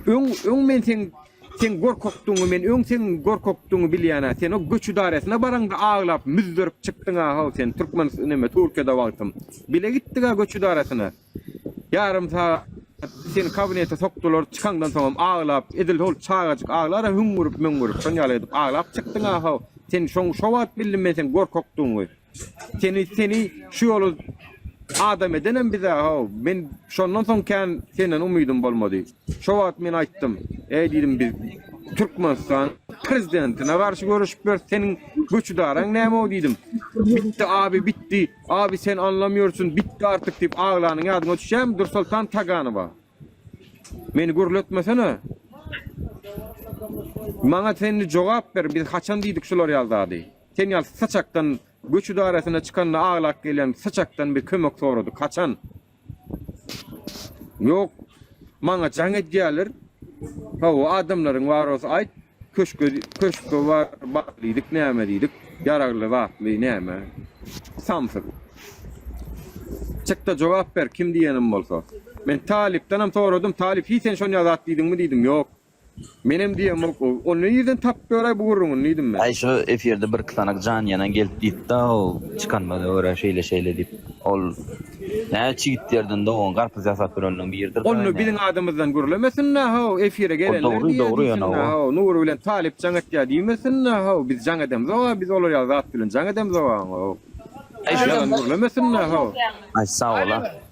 Öň, öň men seň seň gorkakdygyňy, men öň seň gorkakdygyňy bilýän-ä. Sen o göç idaresine baraňda aglap, müzzerip çykdyň-a-haw sen, türkmen, näme, Türkiýede wagtym. Bile gitdik-ä göç idaresine. Ýarym sagat seni kabinete sokdular, çykaňdan soňam aglap, edil hol çagajyk aglar-a hüňňürip-müňňürip, şoň ýaly edip aglap çykdyň-a-haw sen, şoň, şo wagt bildim men seň gorkakdygyňy. Seni seni şu ýoly adam edenem bize haw. Men şondan soň kän senden umydym bolmady. Şo wagt men aýtdym. Eý diýdim biz Türkmenistan prezidentine garşy görüşip ýörüs. Seniň göçüdaraň näme o diýdim. Bitdi abi bitdi. Abi sen anlam ýörsün. Bitdi artyk diýip aglanyň ýadyňa düşýämi Dursoltan Taganowa. Meni gürletmesene. Maňa sen jogap ber biz haçan diýdik şular ýaly zady. Sen ýaly saçakdan göç idaresine çykanda aglap gelýän saçakdan bir kömek soradyk. Haçan? Ýok. Maňa jaň edýärler. Hawa, adamlaryň bar bolsa aýt. Köşke, köşke bar, bar diýdik, näme diýdik. Ýaragly zatly näme. Samsyk. Çykda jogap ber, kim diýenim bolsa. Men Talypdanam soradym. Talyp, hiý sen şonýa zat diýdiňmi diýdim. Ýok. Menem diýýän bolup dur. Ony nirden tapyp ýöräý bu gürrüňini diýdim men. Äý şu efirde birki sanak jan ýanan gelip diýipdä ol çykanymyza görä şeýle şeýle diýip. Ol näçe çigitlerden dogan garpyz ýasap ýöreniniň biridir da indi. Ony biziň adymyzdan gürlemesinler how efire gelenler diýýär diýsinler how Nury bilen Talyp jaň etýär diýmesinler how biz jaň edemzoga biz olar ýaly zat bilen jaň edemzoga how. Äý şu ýalan gürlemesinler how. Aý sag bol a.